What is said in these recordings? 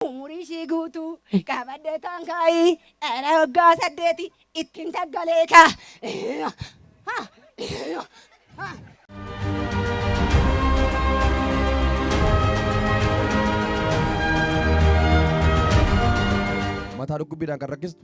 Umurii ishii guutuu qabadhee taan kaa'i dhala waggaa saddeeti ittiin taggalee kaa. Ha! Ha! Mataa dhukkubbiidhaan kan rakkistu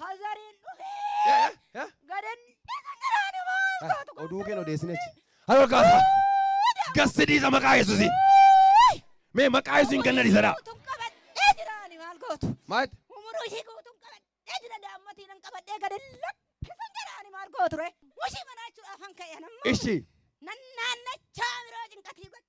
Kazariin dhufee gadan daraani maal Oduu keen odeessine achi. Haroo kaasa. Gassi dhiisa maqaa Yesuusi. Mee maqaa Yesuusiin ganna dhiisadha. Guutuun qabadhee jiraani maal gootu. Maal? Umuruu ishii guutuun qabadhee jira daammatii nan qabadhee gadan lakkisan jiraani maal gootu ree. Mushii manaachuudhaaf han ka'e anammoo. Ishi. Nan naannachaa biroo cinqatii godhe.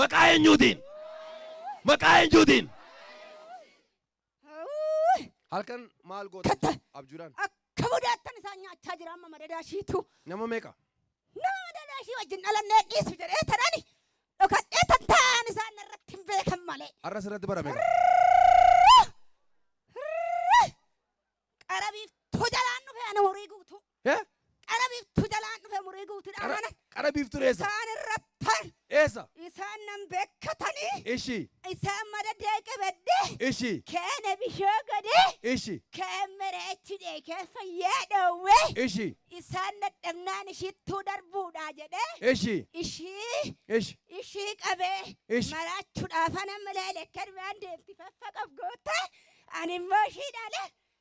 Maqaa eenyuutiin? Maqaa eenyuutiin? Hawuu! Halkan maal goota Katta. jechuudha? Abjuudhaan. Akka budaattan isaan nyaachaa jira amma madadaa ishiitu. Nama meeqa? Nama madadaa ishii wajjin dhalannee dhiisu jedhee tanani dhokadhee tan taa'an isaan irratti hin beekan malee. Har'a sirratti barame. Qarabiif tojalaan dhufe ana horii guutuu. He? Qara biiftuu jalaan dhufe murii guutuu Qara, dhaanan. qara biiftuu dheessa. Isaan irrattan Dheessa. isaan nan beekkatanii Ishi. isaan mada deeqe beddee Ishi. keene bishoo godee Ishi. keen mereechi deekee fayyee dhoowwee Ishi. isaan dadhabnaan ishittuu darbuudha jedhee Ishi. ishii Ishi. ishii qabee Ishi. maraachuudhaaf ana malee lekkarmaan deemti faffaqaf goote ani immoo ishii dhaale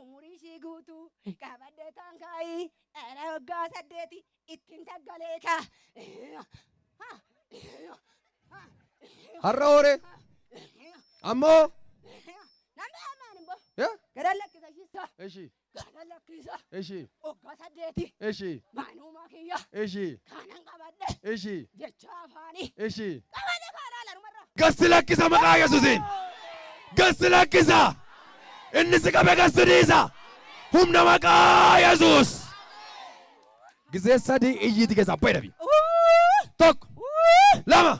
Umurii ishii guutuu qabadde taan kaa'i dhala waggaa saddeeti ittiin taggalee kaa. Har'a hooree. Amma hoo. Namni hamaan immoo Ya. gara lakkisa shiissaa Eshi. gara lakkisa Eshi. waggaa saddeeti Eshi. maanumaa kiyya Eshi. kanan qabadde Eshi. jechuudha. Gochaa afaanii. Eshi. Qabate kaa laala numarraa. Gassi lakkisa maqaa Yesuusiin. Gassi lakkisa. Inni si qabe gassi dhiisa. Humna maqaa Yesuus. Gisee sadii iyyiiti keessaa bayi dhabi. Tokko. Lama.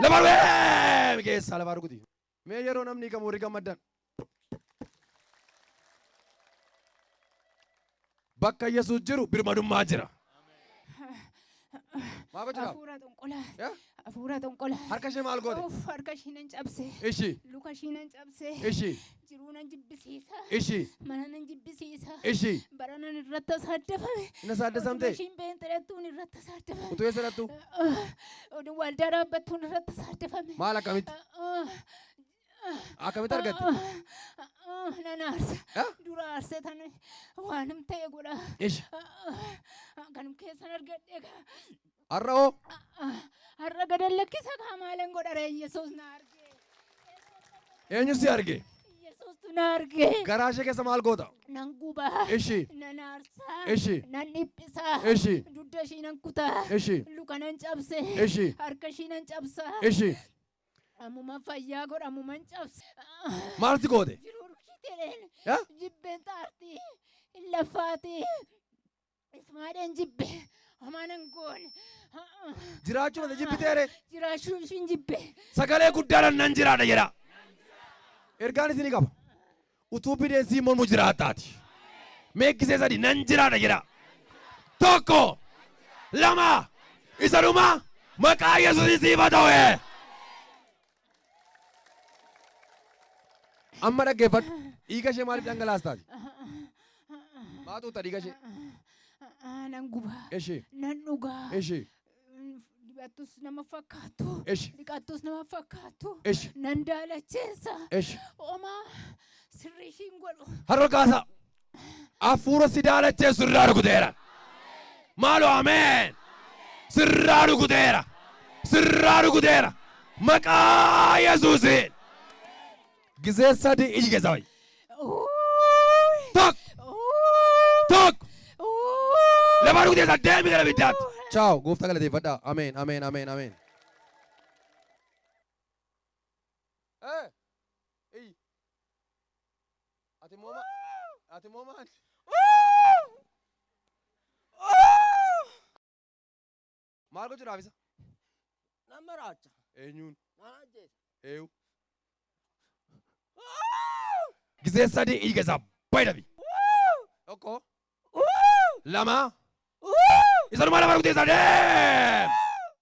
Lama dhufee. Keessaa lafaa rukuti. Mee yeroo namni hiikamu warri gammaddan. Bakka Yesuus jiru birmadummaa jira. Maal gochuudhaaf? Hafuura xonqolaa. Eh? Hafuura xonqolaa. Harka ishee maal goote? Uff, harka ishii nan cabse. Ishi, Luka ishii nan cabse. ishi, Jiruu nan jibbisiisa. ishi, Mana nan jibbisiisa. ishi. Bara nan irratti asaaddafame. Inna saaddasamte? Utuma ishiin beenxerattuun irratti asaaddafame. Utuu eessa dhattu? Oduu waldaa dhaabbattuun irratti asaaddafame. Maal akkamitti? Akkamitti argatte? Nan aarsa. Ah? Dura aarsa tan waanim ta'e godha. Ish. Kanum keessan argadhe kaa. Har'a hoo? Har'a gadan lakkisa kaa maalan godha ree Yesuus na arge. Eenyu si arge? Yesuustu na arge. Garaa ishee keessa maal goota? Nan guba. Ishi. Nan aarsa. Ishi. Nan dhiphisa. Ishi. Dugda ishii nan kuta. Ishi. Luka nan cabse. Ishi. Harka ishii nan cabsa. Ishi. Ammuman fayyaa godha ammuman cabse. Maal si goote? Jiruu dhukii jedheen. Ya? Jibbeen xaartii. Hin laffaatii. Ismaadheen jibbe. Homaa nan goone. Jiraachuu mata jibbitee ree? Jiraachuu ishiin jibbe. Sagalee guddaadhaan nan jiraadha jedha. Ergaan isinii qaba. Utuu bineensii mormu jiraattaati. Mee gisee sadi nan jiraadha jedha. Tokko, lama, isa dhuma maqaa Yesuusiin siifa ta'e. Amma dhaggeeffadhu. Dhiiga ishee maaliif dhangalaastaati? Maa tuuta dhiiga ishee? Nan guba. Ishee. Nan dhuga. Ishee. Dibattus nama fakkaattu. Eshi. Dhiqattus nama fakkaattu. Eshi. Nan daalacheessa. Eshi. Omaa sirrii ishiin godhu. Har'a kaasaa. Hafuura si daalacheessu irraa rukuteera. Maaloo ameen. Sirraa rukuteera. Sirraa rukuteera. Maqaa Yesuusiin. Gizee sadii iji keessa ba'i. Tokko. Tokko. Lafa dhugdee san deemi gara biddaatti. Chaaw gooftaa galateeffadhaa. Ameen ameen ameen ameen. Eh, iyyi. Ati immoo ma- ati immoo maali? Maal gochuudhaaf isa? Nan maraacha. Eenyuun? Nan ajjeesa. Eeyu. Gisee sadii dhiiga isaa bayi dhabi. Tokko. Lama. Isa nu mana margutee isaa deem.